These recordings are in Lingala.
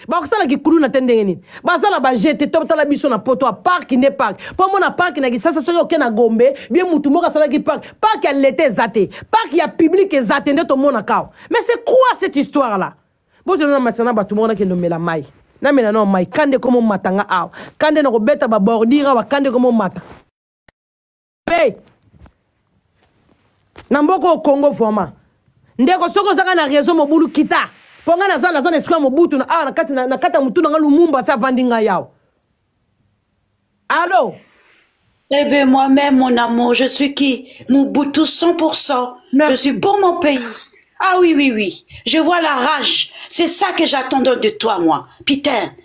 bakosala kikuluna te ndenge nini baza na baje te totala biso na poto ya parki nde parki mpo omona parki na kisasa soki oke na gombe bie motu moko asalaki parki parki ya leta eza te parki ya publike eza te nde tomonaka awa mais c'est quoi cette histoire là bozela na matisa na bato moko nakende omela mai namela nao mai kande komomata nga awa kande nakobeta babordire awa kande komomata pe na mboka oyo congo vraiment ndeko soki ozanga na réseau mobulu kita mpo ngai naza naza na esprit ya mobutu na awa na kati ya motu na ngai lumumba asi avandi ngai yawa alo Eh bien, moi-même, mon amour, je suis qui Mobutu 100%. Merci. Je suis pour mon pays. Ah oui, oui, oui. Je vois la rage. C'est ça que j'attendais de toi, moi. Putain,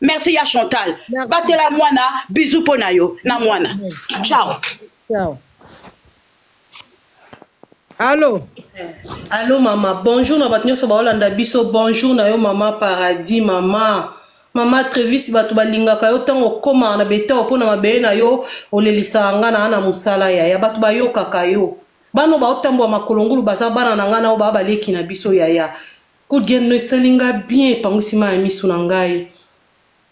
merci ya chantal batela mwana bizu mpo na yo na mwana ciao ciao Allô Allô maman, bonjour na bato nyonso baolanda biso, bonjour na yo maman Paradis, maman. Maman Trevis bato balingaka yo ntango okoma na betao mpo na mabele na yo olelisaka nga na na mosala ya ya bato bayokaka yo bano baotambola makolongulu baza bana na ngai nao baa baleki na biso yaya Coup de gueule no esali nga bien epangusi ma ya misu na ngai.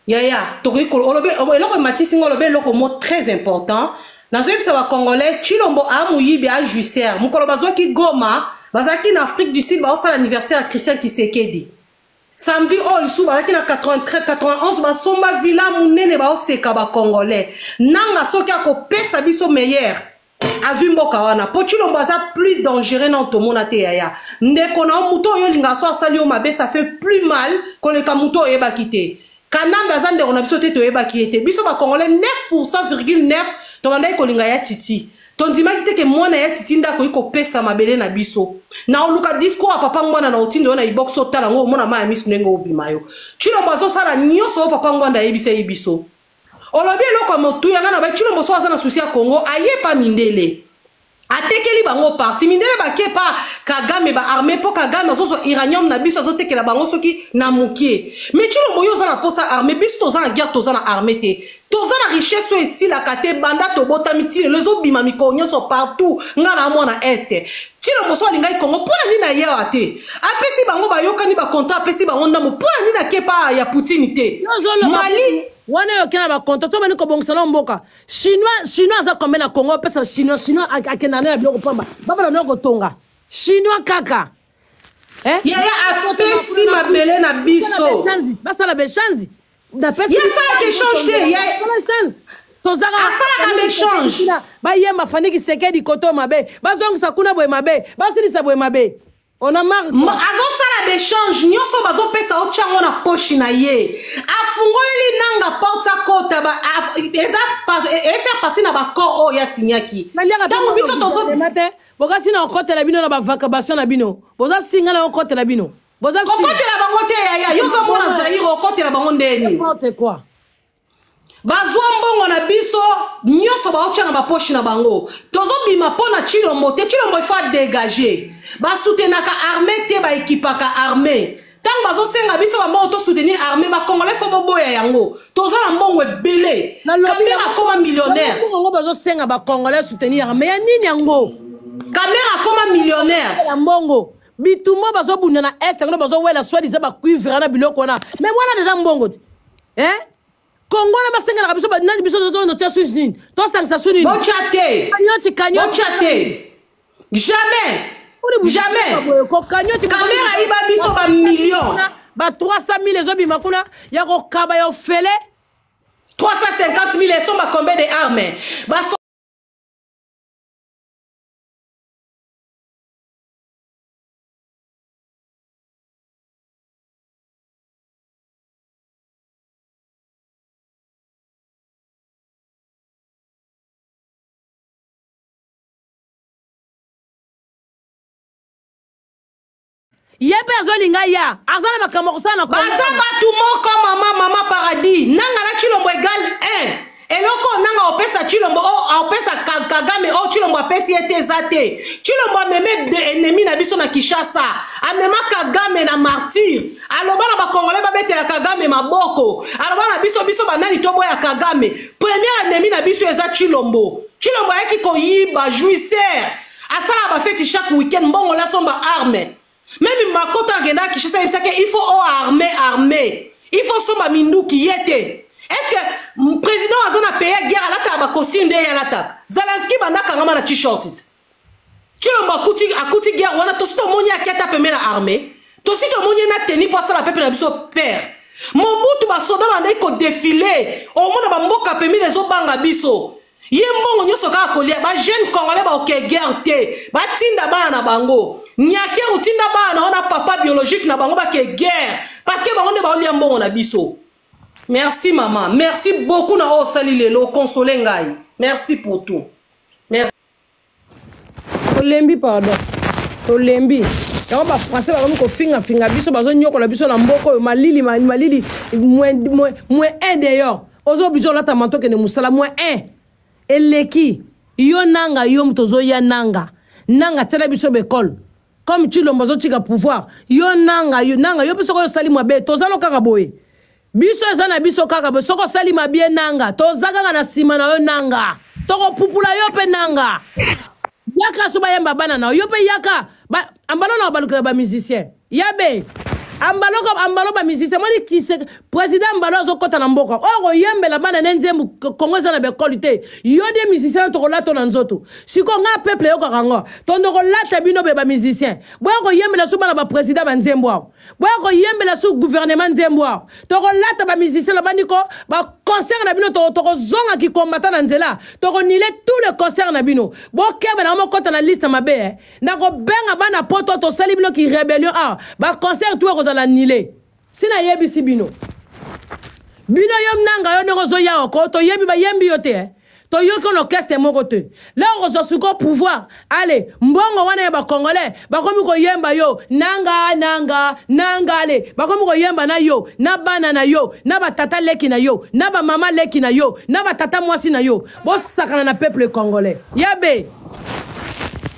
Yaya, tokoki ko olobe eloko ematisi nga olobe eloko mo très important. Nazoyebisa ba congolais Chilombo a muyibi a jouisseur. Mukolo bazwaki Goma, bazalaki na Afrique du Sud baosala anniversaire ya Christian Kisekedi. samedi oyo lisusu bazalaki na 91 basomba villa monene baoseka bacongolais nanga soki akopesa biso meilleur azwi mboka wana mpo cilombo aza plus dangereux na otomona te yaya ndeko na yo moto oyo olingaka so asali yo mabe ça fait plus mal koleka moto oyebaki te kanambe aza ndeko na biso te toyebaki ye te biso bacongolais 9 pourcent virgule 9 tobandaki kolinga ya titi tondimaki te ke mwana ya titi nde akoki kopesa mabele na biso na oluka discours ya papa ngwana na otindo yo na ibox otala yango omona mai ya miso ndenge obima yo cilombo azosala nyonso oyo papa ngwanda ayebisaki biso olobi eloko ya motuya nga na bai tshilombo so aza na susi ya congo aye pa mindele atekeli bango parti mindele bake pa kagame baarme mpo kagame azozwa iranium na biso azotekela bango soki na moke me tshilombo yo oza na mposa arme biso toza na guerre toza na arme te toza na richesse oyo esilaka te banda tobotami ti lelo ezobima mikolo nyonso partout nga na mwana este Tshilo Moso alingaki Congo mpo na nini aye awa te? Apesi bango bayokani ba contrat apesi bango ndambo mpo na nini ake pa ya Poutine te? Yo ozoloba Mali wana eyoki na bakonto to bani kobongisa na mboka chinois chinois aza combien na congo opesa chinois chinois ak- akenda na ya biloko pamba babana nayo kotonga chinois kaka eh? yaya apesi mabele na biso basala beshanzi asalaka echange te asalaka baechange bayemba fani kisekedi koto mabe bazongisa kuna boye mabe basilisa boye mabe azosala baechange nyonso bazopesa otya yango na poshi na ye afungoleli nanga porte akota eza efaire e parti na bacor oyo yasinyaki ntango biso tozo bokasi na kokotela bino na bavacabation na bino boza singa na kokotela bino boza kokotela bango te yaya yo ozomona zaire okotela bango ndeni bazwa mbongo na biso nyonso baotya na baposhi na bango tozobima mpo na chilombo te chilombo ifo adegage basutenaka arme te baekipaka arme ntango bazosenga biso bambongo tosoutenir arme bacongolais fo boboya yango toza na mbongo ebele kamere akoma millionnaire yango bazosenga bacongolais soutenir arme ya nini yango kamere akoma millionnaire ya mbongo bitumba bazobunda na est yango bazowela soit disant bacuivre na biloko wana mais wana deja mbongo te eh? kongo wana basengelaka biso nani biso totya susi nini tosangisa su ninibotya te kanyoti kanyoti te jamais jamais kamera ayiba biso bamillion ba 300 000 ezobima kuna ya kokaba ya ofele 350 000 esomba combien de armes ye mpe azolinga ya aza na makambo akosala na baza bato moko mama mama paradis nanga na chilombo egal 1 eloko oyo nanga opesa chilombo opesa kagame oyo chilombo apesi ye te eza te chilombo ameme enemi na biso na kinshasa amema kagame na martyr aloba na bakongole babetela kagame maboko aloba na biso biso banani toboya kagame premier enemi na biso eza chilombo chilombo ayaki koyiba jouisseur asala bafeti chaque week-end mbongo lasomba arme meme makoto akendaka kishasa ayebisaki il faut o arme arme il faut somba minduki ye te est ce que président aza na peye guerre alataka bacostume nde ye alataka zalanski banda akangama na t-shorts cilombo akuti, akuti guerre wana tosi tomoni ake ata pembe na armée tosi tomoni ye na teni mpo asala pepe na biso père mobutu basoda bandaki kodefile omona bamboka pembe na ezobanga biso ye mbongo nyonso kaka kolia bajeune congolais baoke guerre te batinda bana na bango nyake otinda bana na wana papa biologique na bango bake guerre parce que bango nde baolia mbongo na biso merci mama merci beaucoup na oyo osali lelo okonsole ngai merci pour tout merci. tolembi pardon tolembi yango bafrançais bakomi kofingafinga biso bazonyokola biso na mboka oyo malili malili moins un dehors oza oblige olata manto okende mosala moins un eleki yo nanga yo moto ozoya nanga nanga tiela biso baekole comme cilombo azotika pouvoir yo nanga yo nanga yo mpe soki osali mabe tozalo kaka boye biso eza na biso kaka bo soki osali mabie nanga toza kaka na nsima na yo nanga tokopupula yo mpe nanga yaka so bayemba bana na yo mpe yaka ambalo na obalukela bamusicien yabe ambalo ambalo bamusicien moni kise président ambalo azokɔta na mboka oyo koyembela bana ne nzembo kongo eza na baekole te yo de musicien tokolata na nzoto sikoyo ngai peuple eyokaka ngo tondo kolata bino be bamusicien boya koyembela so bana baprésident banzembo awa boya koyembela su guvernema nzembo awa tokolata bamusicien lobandi ko baconcert na bino tokozonga kikombata na nzela tokonile tout le concert na bino bokeba na mokota na liste mabe eh. na kobenga bana poto tosali bino ki rebellion awa baconcert tu ekozala nile sina yebisi bino bino yo nanga yo ndenge ozoya oko toyebi bayembi yo te eh. toyoki olokeste moko te leo kozwa suko pouvoir ale mbongo wana ya bacongolais bakomi koyemba yo nanga nanga nanga ale bakomi koyemba na yo na bana na yo na batata leki na yo na bamama leki na yo na batata mwasi na yo bosakana na peuple congolais yabe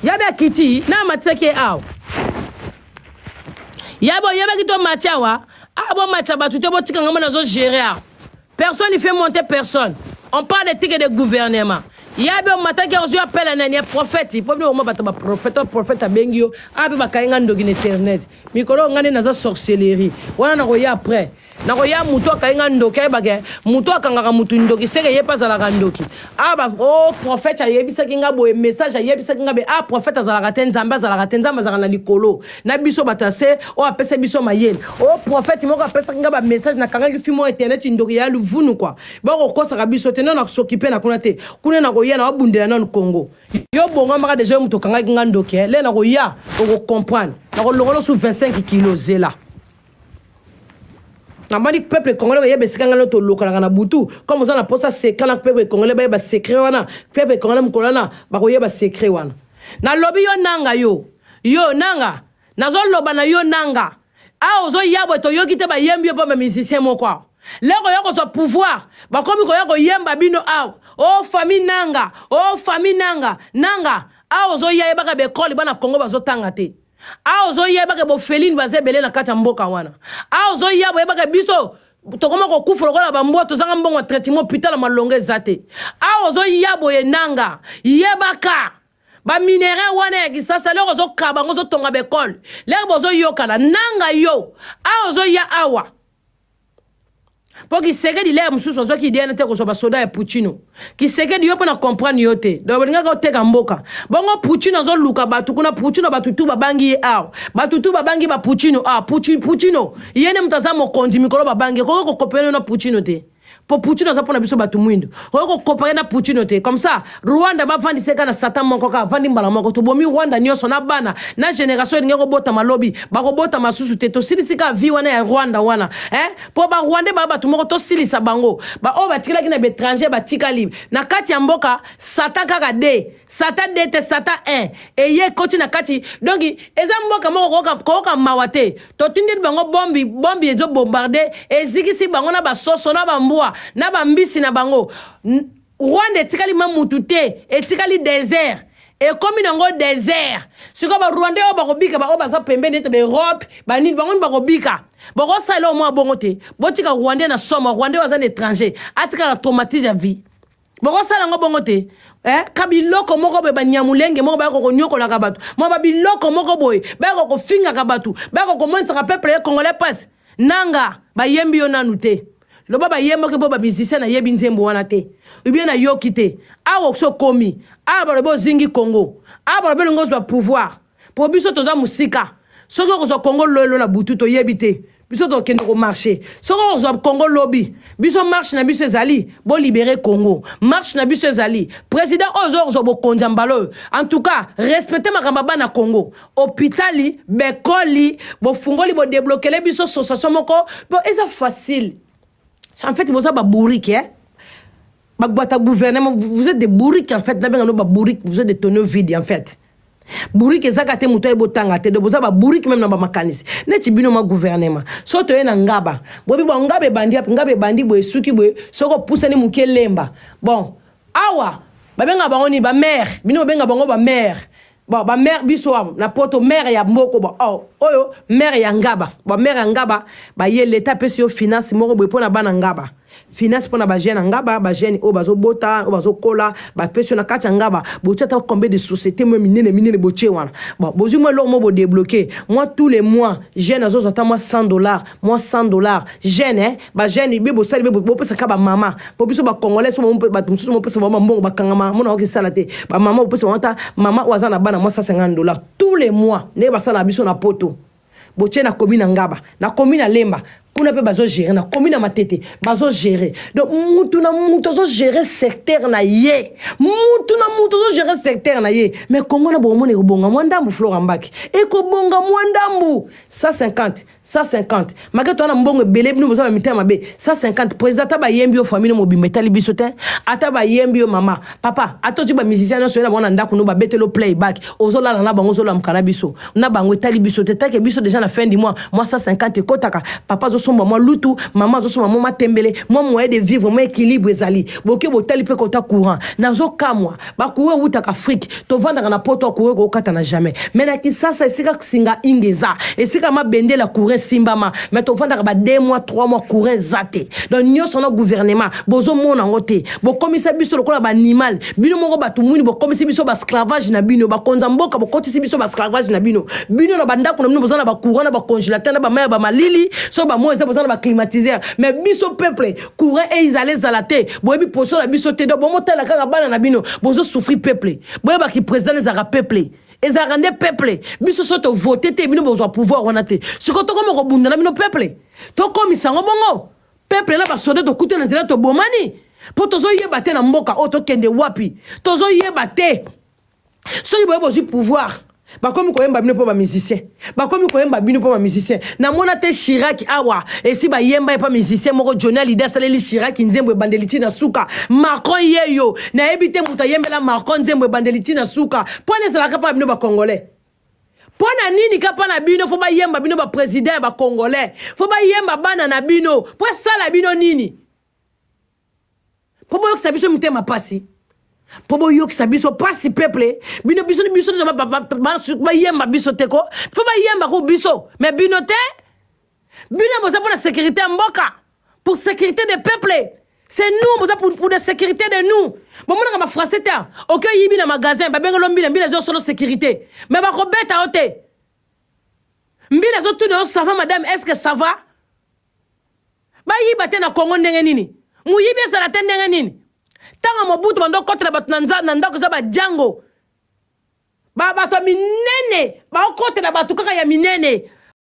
yabe akiti na amatisaki ye awa yabe oyebaki to mati awa awa bomatisa bato te botika ngambo nazogere awa Personne ne fait monter personne. On parle de ticket de gouvernement. yabe omataki yango ozwi apela nani ya profete mpo bino oma bato baprofete profete abengi yo ape bakangi ngai ndoki na internet mikolo oyo ngai nde naza sorcellerie wana nakoya après nakoya motu akangi ngai ndoki ayebake motu akangaka motu ndoki seke ye mpe azalaka ndoki ah ba oh prophète ayebisaki nga boye message ayebisaki nga be ah prophète azalaka te nzambe azalaka te nzambe azalaka na likolo na biso bato ya se oyo apesa biso mayele oh prophète moko apesaki nga bamessage nakangaki fi moko internet ndoki ya luvunu kua bakokosaka biso te nano nasokipe na kuna te kuna nakoya na babundela nano congo yo bongamaka deja yo moto okangaki nga ndoki eh. le nakoya okocomprendre nakolongola su 25 kilo zela namoni peuple congolais bayeba esika ngai no tolokalaka na butu comme oza na mposa secret na peuple congolais bayeba secret wana peuple congolais mokolo wana bakoyeba secret wana nalobi yo nanga yo yo nanga nazoloba na yo nanga awa ozoya boye toyoki te bayembi yo mpo bamusicien moko awa lelo koya kozwa pouvoir bakomi koya koyemba bino awa o oh, famille nanga o oh, famille nanga nanga awa ozoya yebaka baekole bana kongo bazotanga te a ozoyeba ke bofelini baza ebele na kati ya mboka wana a ozoya boyeba ke biso tokoma kokufa lokola bambwa tozanga mbongo ya traitement pitala malonga eza te a ozoya boye nanga yebaka baminerai wana ya kisasa loko ozokaba yango ozotonga baekole leke bozoyokana nanga yo a ozoya awa mpo kisekedi lea mosusu azwaki idea na te kozwa basoda ya puccino kisekedi yo mpo na comprendre yo te donc olingaka oteka mboka bongo puccino azoluka bato kuna puccino bato tu babangi ye awa bato tu babangi ba puccino awa puccino ye nde moto aza mokonzi mikolo babangi ekoki kokopela yo na puccino te mpo puccino aza mpo na biso bato mwindo okoki kokopaya na puccino te comme ça rwanda bavandisa ye kaka na satan moko kaka avandi mbala moko tobomi rwanda nyonso na bana na generation elingi kobotama lobi bakobotama susu te tosilisi kaka vi wana ya rwanda wana eh? mpo barwande baa bato moko tosilisa bango baoyo batikalaki na baétranger batikali na kati ya mboka satan kaka de satan de te satan 1 eye ekoti na kati donki eza mboka moko kooka mawa te totindeli bango bombi bombi ezobombarde ezikisi bango na basoso na bambwa na bambisi na bango rwanda etikali ma mutu te etikali desert ekomi nango desert sikoyo barwandais oyo bakobika baoyo baza pembeni ete baeurope banini bango ni bakobika bokosala oyo mwa bongo te botika rwandais na somo rwandais baza na étranger atika na traumatise ya vie bokosala yango bongo te eh? ka biloko moko boye banyamulenge moko bayaka konyokolaka bato mwa babiloko moko boye bayaka kofingaka bato bayaka komonisaka peuple ye congolais pasi nanga bayembi yo nanu te loba bayembaki mpo bamusicien nayebi nzembo wana te ubie nayoki te awa okosi okomi awa balobi ozingi congo awa balobi elingi ozwa pouvoir mpo biso toza mosika soki okozwa congo lolo na butu toyebi te biso tokende komarche soki okozwa congo lobi biso marche na biso ezali bolibere congo marche na biso ezali président oyo oza okozwa bokonzi ya mbala oyo en tout cas respecte makambo ya bana congo hopitali bekoli bofungoli bodeblokele biso sosation moko po eza facile en fait boza babourike eh? bagbata gouvernement vous êtes des bourriques en fait nabenga no babourike vous êtes des tonneau vide en fait bourrique ezaka te moto ayebi otanga te do boza babourrique meme na bamakanisi neti bino ma gouvernement so toye na ngaba boyebi bon ngaba ebandi yape ngaba ebandi boye esuki boye soki opusani moke elemba bon awa babenga bango nini bamare bino bobenga bango bamare bon bamare biso awa na poto mare ya moko bon oh, oyo mare ya ngaba bon mare ya ngaba baye leta apesi yo finance moko boye mpo na bana ngaba finance mpo na bajeune ya ngaba bajeune oyo bazobota oyo bazokola bapesi yo na kati ya ngaba botia ata combien de société mwa minene minene botie wana bon bozwi mwa eloko moko bodebloke mwa tous les mois jeune azozwa ata mwa 100 dollars mwa 100 dollars jeune eh? bajeune be bosali be bopesa kaka bamama mpo biso bacongolais bato mosusu mopesa bango bambongo bakangama mona oki esala te bamama bopesa bango ata mama oyo aza na bana mwa 150 dollars tous les mois ndenge basalaka biso na poto botie na komi na ngaba na komi na lemba kuna mpe bazogere na komi na matete bazogere donc mutu na mutu azogere secteur na ye mutu na mutu azogere secteur na ye mais kongo na bokomona ekobonga mwa ndambu flora mbaki ekobonga mwa ndambu 150 150 make toza na mbongo ebele bino boza na mitema mabe 150 président ata bayembi yo famille no mobimba etali biso te ata bayembi yo mama papa ata ozwi bamusicien nyonso ye na bango na ndako no babetelo play back ozolala na bango ozolamka na biso na bango etali biso te take biso deja na fin du mois mwa 150 ekotaka papa azosomba mwa lutu mama azosomba mwa matembele mwa moyen de vivre mwa équilibre ezali boke botali mpe kota courant nazokamwa bakuru ewutaka afrike tovandaka na poto akuru ekokata na jamais me na kisasa esika singa inga eza esika mabende la kure esimbama me tovandaka ba 2 mois 3 mois kure eza te donc nyonso na gouvernement bozomona yango te bokomisa biso lokola baanimal bino moko bato mwini bokomisi biso basclavage na bino bakonza mboka bokotisi biso basclavage na bino bino na bandako na bino boza na bakura na bacongélateur na bamai ya bamalili so bamoi eza boza na baclimatiseur me biso peuple courant eizala ezala te boyebi poso na biso te donc bomotala kaka bana na bino bozo souffri peuple boyebaki président ezalaka peuple ezalaka nde peuple biso so tovote te bino bozwa pouvoir wana te sikoyo tokoma kobunda na bino peuple tokomisa yango bongo peuple na basoda tokuta na nzela tobomani mpo tozoyeba te na mboka oyo tokende wapi tozoyeba te soki boye bozwi pouvoir bakomi koyemba bino mpo bamusicien bakomi koyemba bino mpo bamusicien namona te shiraki awa esi bayemba ye mpo musicien moko joni alide asaleli shiraki nzembo ebandeli ti na suka macron yeyo nayebi te moto ayembela macron nzembo ebandeli ti na suka mpo na ezalaka mpo na bino bacongolais mpo na nini kapa na bino fo bayemba bino bapresident ya bacongolais fo bayemba bana na bino mpo esala bino nini mpo boyokisa biso mitema mpasi mpo boyokisa biso mpasi peuple bino biso biso bayemba biso te ko fo bayemba ko biso me bino te bino boza mpo na sécurité ya mboka pour sécurité des peuples c'est nous boza pour, pour la sécurité de nous bomonaka bafrançais te oke oyibi na magasin babengelo mbila mbila ezo solo sécurité me bakobeta yo te mbila ezotuna yo sava madame est ce que sava bayiba te na congo ndenge nini moyibi ezala te ndenge nini ntango mobutu bando okotela bato na ndako eza bajango bato ya minene baokotela bato kaka ya minene